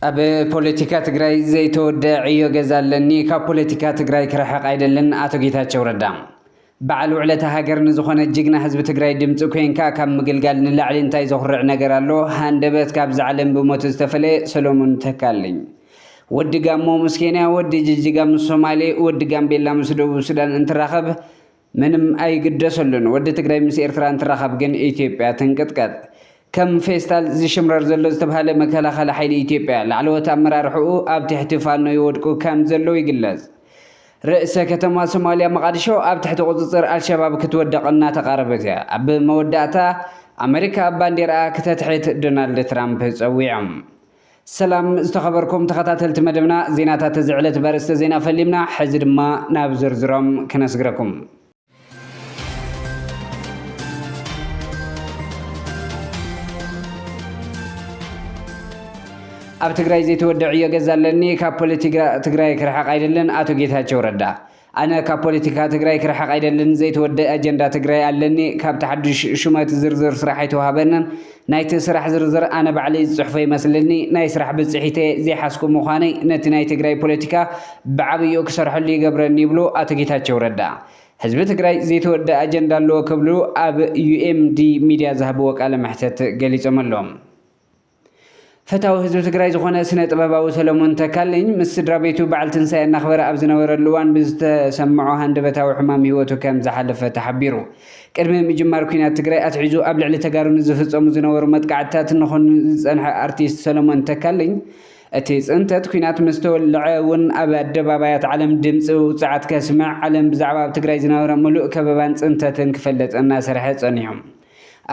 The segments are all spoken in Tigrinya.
ኣብ ፖለቲካ ትግራይ ዘይተወደአ ዕዮ ገዛ ኣለኒ፣ ካብ ፖለቲካ ትግራይ ክርሕቕ ኣይደልን፣ ኣቶ ጌታቸው ረዳ በዓል ውዕለታ ሃገር ንዝኾነ ጅግና ህዝቢ ትግራይ ድምፂ ኮይንካ ካብ ምግልጋል ንላዕሊ እንታይ ዘኹርዕ ነገር ኣሎ ሃንደበት ካብዚ ዓለም ብሞት ዝተፈለየ ሰሎሙን ተካልኝ ወዲ ጋሞ ምስ ኬንያ ወዲ ጅጅጋ ምስ ሶማሌ ወዲ ጋምቤላ ምስ ደቡብ ሱዳን እንትራኸብ ምንም ኣይግደሰሉን ወዲ ትግራይ ምስ ኤርትራ እንትራኸብ ግን ኢትዮጵያ ትንቅጥቀጥ ከም ፌስታል ዝሽምረር ዘሎ ዝተብሃለ መከላኸሊ ሓይሊ ኢትዮጵያ ላዕለዎት ኣመራርሕኡ ኣብ ትሕቲ ፋኖ ይወድቁ ከም ዘለው ይግለፅ ርእሰ ከተማ ሶማልያ መቓድሾ ኣብ ትሕቲ ቁጽጽር ኣልሸባብ ክትወድቕ እናተቓረበት ኣብ መወዳእታ ኣመሪካ ባንዴርኣ ክተትሕት ዶናልድ ትራምፕ ጸዊዖም። ሰላም ዝተኸበርኩም ተኸታተልቲ መደብና ዜናታት እዚ ዕለት በርእስተ ዜና ፈሊምና ሕዚ ድማ ናብ ዝርዝሮም ክነስግረኩም። ኣብ ትግራይ ዘይተወድዕ ዕዮ ገዛ ኣለኒ ካብ ፖለቲካ ትግራይ ክርሕቕ ኣይደልን ኣቶ ጌታቸው ረዳ ኣነ ካብ ፖለቲካ ትግራይ ክርሕቕ ኣይደልን ዘይተወድእ ኣጀንዳ ትግራይ ኣለኒ ካብቲ ሓዱሽ ሹመት ዝርዝር ስራሕ ኣይተዋህበንን ናይቲ ስራሕ ዝርዝር ኣነ ባዕለይ ዝጽሕፎ ይመስልኒ ናይ ስራሕ ብጽሒተየ ዘይሓዝኩ ምዃነይ ነቲ ናይ ትግራይ ፖለቲካ ብዓብይኡ ክሰርሐሉ ይገብረኒ ይብሉ ኣቶ ጌታቸው ረዳ ህዝቢ ትግራይ ዘይተወደኣ ኣጀንዳ ኣለዎ ክብሉ ኣብ ዩኤምዲ ሚድያ ዝሃብዎ ቃለ መሕተት ገሊጾም ኣሎም። ፈታዊ ህዝቢ ትግራይ ዝኾነ ስነ ጥበባዊ ሰለሙን ተካልኝ ምስ ስድራ ቤቱ በዓል ትንሳኤ እናኽበረ ኣብ ዝነበረሉ እዋን ብዝተሰምዖ ሃንደበታዊ ሕማም ህይወቱ ከም ዝሓለፈ ተሓቢሩ። ቅድሚ ምጅማር ኲናት ትግራይ ኣትሒዙ ኣብ ልዕሊ ተጋሩ ንዝፍፀሙ ዝነበሩ መጥቃዕትታት ንኹንን ዝፀንሐ ኣርቲስት ሰለሙን ተካልኝ እቲ ፅንተት ኲናት ምስ ተወልዐ እውን ኣብ ኣደባባያት ዓለም ድምፂ ውፅዓት ከስምዕ ዓለም ብዛዕባ ኣብ ትግራይ ዝነበረ ሙሉእ ከበባን ፅንተትን ክፈልጥ እናሰርሐ ፀኒሑ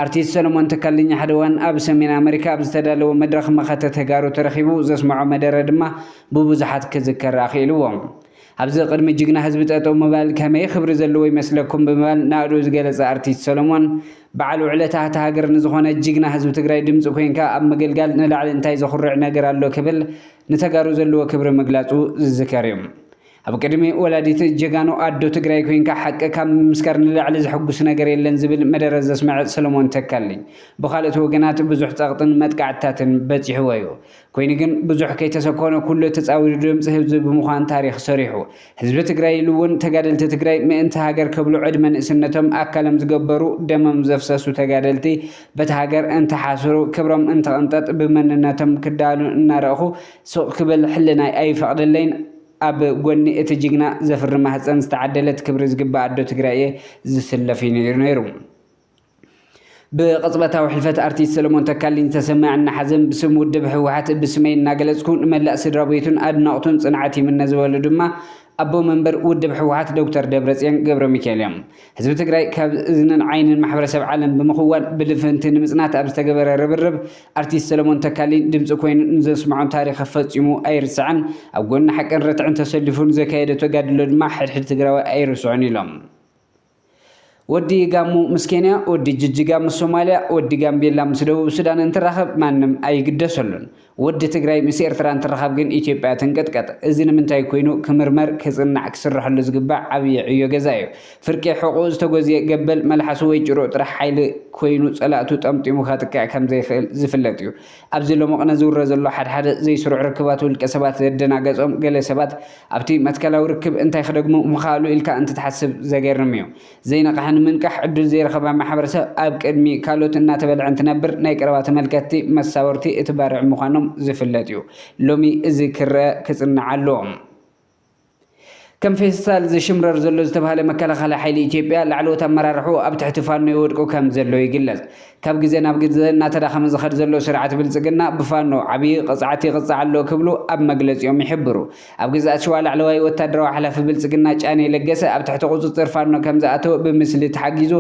ኣርቲስት ሰሎሞን ተካልኝ ሓደ እዋን ኣብ ሰሜን ኣመሪካ ኣብ ዝተዳለወ መድረኽ መኸተ ተጋሩ ተረኺቡ ዘስመዖ መደረ ድማ ብብዙሓት ክዝከር ኣኽኢልዎ። ኣብዚ ቅድሚ ጅግና ህዝቢ ጠጠው ምባል ከመይ ኽብሪ ዘለዎ ይመስለኩም ብምባል ናእድኡ ዝገለፀ ኣርቲስት ሰሎሞን በዓል ውዕለታ ሃታ ሃገር ንዝኾነ ጅግና ህዝቢ ትግራይ ድምፂ ኮይንካ ኣብ ምግልጋል ንላዕሊ እንታይ ዘኹርዕ ነገር ኣሎ ክብል ንተጋሩ ዘለዎ ክብሪ ምግላፁ ዝዝከር እዩ። ኣብ ቅድሚ ወላዲት ጀጋኑ ኣዶ ትግራይ ኮይንካ ሓቂ ካብ ምምስካር ንላዕሊ ዘሕጉስ ነገር የለን ዝብል መደረ ዘስመዐ ሰለሞን ተካልኝ ብኻልኦት ወገናት ብዙሕ ፀቕጥን መጥቃዕትታትን በፂሑዎ እዩ። ኮይኑ ግን ብዙሕ ከይተሰኮነ ኩሉ ተፃዊሩ ድምፂ ህብዚ ብምዃን ታሪኽ ሰሪሑ። ህዝቢ ትግራይ ኢሉ እውን ተጋደልቲ ትግራይ ምእንቲ ሃገር ከብሉ ዕድመ ንእስነቶም ኣካሎም ዝገበሩ ደሞም ዘፍሰሱ ተጋደልቲ በቲ ሃገር እንተሓስሩ ክብሮም እንተቕንጠጥ ብመንነቶም ክዳሃሉ እናረእኹ ሱቕ ክብል ሕልናይ ኣይፈቕደለይን። ኣብ ጎኒ እቲ ጅግና ዘፍሪ ማህጸን ዝተዓደለት ክብሪ ዝግባኣ ኣዶ ትግራይ እየ ዝስለፍ እዩ ነይሩ ነይሩ። ብቕጽበታዊ ሕልፈት ኣርቲስት ሰለሞን ተካልኝ ዝተሰመዐና ሓዘን ብስም ውድብ ህወሓት ብስመይ እናገለጽኩ ንመላእ ስድራቤቱን ኣድነቕቱን ጽንዓት ይምነ ዝበሉ ድማ ኣቦ መንበር ውድብ ህወሓት ዶክተር ደብረጽዮን ገብረሚካኤል እዮም። ህዝቢ ትግራይ ካብ እዝንን ዓይንን ማሕበረሰብ ዓለም ብምኽዋል ብልፍንቲ ንምፅናት ኣብ ዝተገበረ ርብርብ ኣርቲስት ሰለሞን ተካልኝ ድምፂ ኮይኑ ንዘስምዖ ታሪኽ ፈፂሙ ኣይርስዕን። ኣብ ጎኒ ሓቅን ርትዕን ተሰሊፉ ንዘካየዶ ተጋድሎ ድማ ሕድሕድ ትግራዋይ ኣይርስዖን ኢሎም። ወዲ ጋሞ ምስ ኬንያ፣ ወዲ ጅጅጋ ምስ ሶማልያ፣ ወዲ ጋምቤላ ምስ ደቡብ ሱዳን እንትራኸብ ማንም ኣይግደሰሉን። ወዲ ትግራይ ምስ ኤርትራ እንትራኸብ ግን ኢትዮጵያ ትንቅጥቀጥ። እዚ ንምንታይ ኮይኑ ክምርመር፣ ክጽናዕ፣ ክስረሐሉ ዝግባእ ዓብይ ዕዮ ገዛ እዩ። ፍርቂ ሕቑኡ ዝተጎዝየ ገበል መልሓሱ ወይ ጭርኡ ጥራሕ ሓይሊ ኮይኑ ጸላእቱ ጠምጢሙ ከጥቅዕ ከምዘይክእል ዝፍለጥ እዩ። ኣብዚ ሎምቕነ ዝውረ ዘሎ ሓድሓደ ዘይስሩዕ ርክባት ውልቀ ሰባት ዘደናገጾም ገለ ሰባት ኣብቲ መትከላዊ ርክብ እንታይ ክደግሙ ምኸኣሉ ኢልካ እንትትሓስብ ዘገርም እዩ። ዘይነቕሐ ንምንቃሕ ዕድል ዘይረኸበ ማሕበረሰብ ኣብ ቅድሚ ካልኦት እናተበልዐ እንትነብር ናይ ቀረባ ተመልከትቲ መሳወርቲ እቲ ባርዕ ምዃኖም ዝፍለጥ እዩ። ሎሚ እዚ ክረኣ ክጽናዕ ኣለዎ። ከም ፌስታል ዝሽምረር ዘሎ ዝተብሃለ መከላኸሊ ሓይሊ ኢትዮጵያ ላዕለዎት ኣመራርሕኡ ኣብ ትሕቲ ፋኖ ይወድቁ ከምዘለዉ ይግለጽ። ካብ ግዘ ናብ ግዘ እናተዳኸመ ዝኸድ ዘሎ ስርዓት ብልፅግና ብፋኖ ዓብዪ ቕፅዓት ይቕፃዕ ኣሎ ክብሉ ኣብ መግለፂኦም ይሕብሩ። ኣብ ግዝኣት ሽዋ ላዕለዋይ ወታደራዊ ሓላፊ ብልፅግና ጫኔ ለገሰ ኣብ ትሕቲ ቑፅፅር ፋኖ ከምዝኣተወ ብምስሊ ተሓጊዙ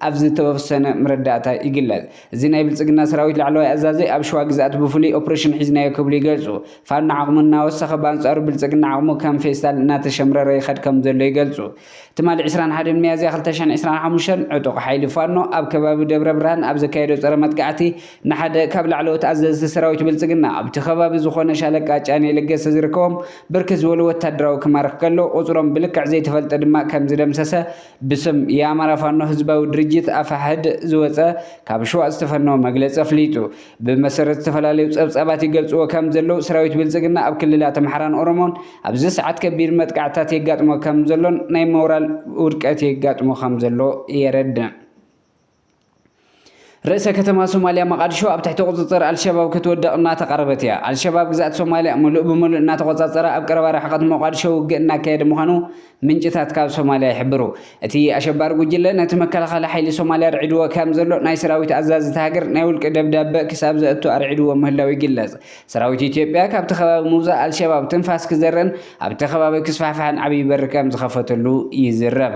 ኣብ ዝተወሰነ ምረዳእታ ይግለፅ። እዚ ናይ ብልፅግና ሰራዊት ላዕለዋይ ኣዛዚ ኣብ ሽዋ ግዝኣት ብፍሉይ ኦፕሬሽን ሒዝናዮ ክብሉ ይገልፁ። ፋኖ ዓቕሙ እናወሰኸ ብኣንፃሩ ብልፅግና ዓቕሙ ከም ፌስታል እናተሸምረረ ይኸድ ከምዘሎ ይገልፁ። ትማሊ ዕስራን ሓደን ሚያዝያ ክልተ ሽሕን ዕስራን ሓሙሽተን ዕጡቕ ሓይሊ ፋኖ ኣብ ከባቢ ደብረብርሃን ኣብ ዘካየዶ ፀረ መጥቃዕቲ ንሓደ ካብ ላዕለዎት ኣዘዝቲ ሰራዊት ብልፅግና ኣብቲ ከባቢ ዝኾነ ሻለቃ ጫኔ ለገሰ ዝርከቦም ብርክት ዝበሉ ወታደራዊ ክማርኽ ከሎ ቁፅሮም ብልክዕ ዘይተፈልጠ ድማ ከምዝደምሰሰ ብስም የኣማራ ፋኖ ህዝባዊ ድርጅት፣ ኣፋሕድ፣ ዝወፀ ካብ ሽዋ ዝተፈነወ መግለፂ ኣፍሊጡ። ብመሰረት ዝተፈላለዩ ፀብፃባት ይገልፅዎ ከምዘለው ሰራዊት ብልፅግና ኣብ ክልላት ኣምሓራን ኦሮሞን፣ ኣብዚ ሰዓት ከቢድ መጥቃዕትታት የጋጥሞ ከም ዘሎን ናይ ሞራል ውድቀት የጋጥሞ ከም ዘሎ የረድእ። ርእሰ ከተማ ሶማልያ መቓድሾ ኣብ ትሕቲ ቁጽጽር ኣልሸባብ ክትወድቕ እናተቓረበት እያ። ኣልሸባብ ግዝኣት ሶማልያ ምሉእ ብምሉእ እናተቖጻጸረ ኣብ ቀረባ ርሕቐት ሞቓድሾ ውግእ እናካየደ ምዃኑ ምንጭታት ካብ ሶማልያ ይሕብሩ። እቲ ኣሸባሪ ጉጅለ ነቲ መከላኸሊ ሓይሊ ሶማልያ ኣርዒድዎ ከም ዘሎ ናይ ሰራዊት ኣዛዚ እታ ሃገር ናይ ውልቂ ደብዳበ ክሳብ ዘእቱ ኣርዒድዎ ምህላዉ ይግለጽ። ሰራዊት ኢትዮጵያ ካብቲ ከባቢ ምውጻእ ኣልሸባብ ትንፋስ ክዘርእን ኣብቲ ከባቢ ክስፋሕፋሕን ዓብዪ በሪ ከም ዝኸፈተሉ ይዝረብ።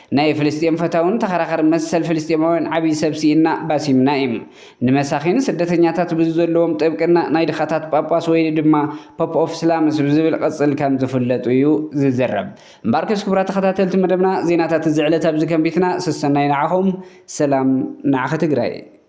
ናይ ፍልስጤም ፈታውን ተኸራኸር መሰል ፍልስጤማውያን ዓብይ ሰብ ሲኢንና ባሲም ናኢም ንመሳኺን ስደተኛታት ብዝዘለዎም ጥብቅና ናይ ድኻታት ጳጳስ ወይ ድማ ፖፕ ኦፍ ስላምስ ብዝብል ቕጽል ከም ዝፍለጡ እዩ ዝዝረብ እምበኣርከስ ክቡራት ተኸታተልቲ መደብና ዜናታት እዚ ዕለት ኣብዚ ከንቢትና ሰሰናዩ ንዓኹም ሰላም ንዓኺ ትግራይ።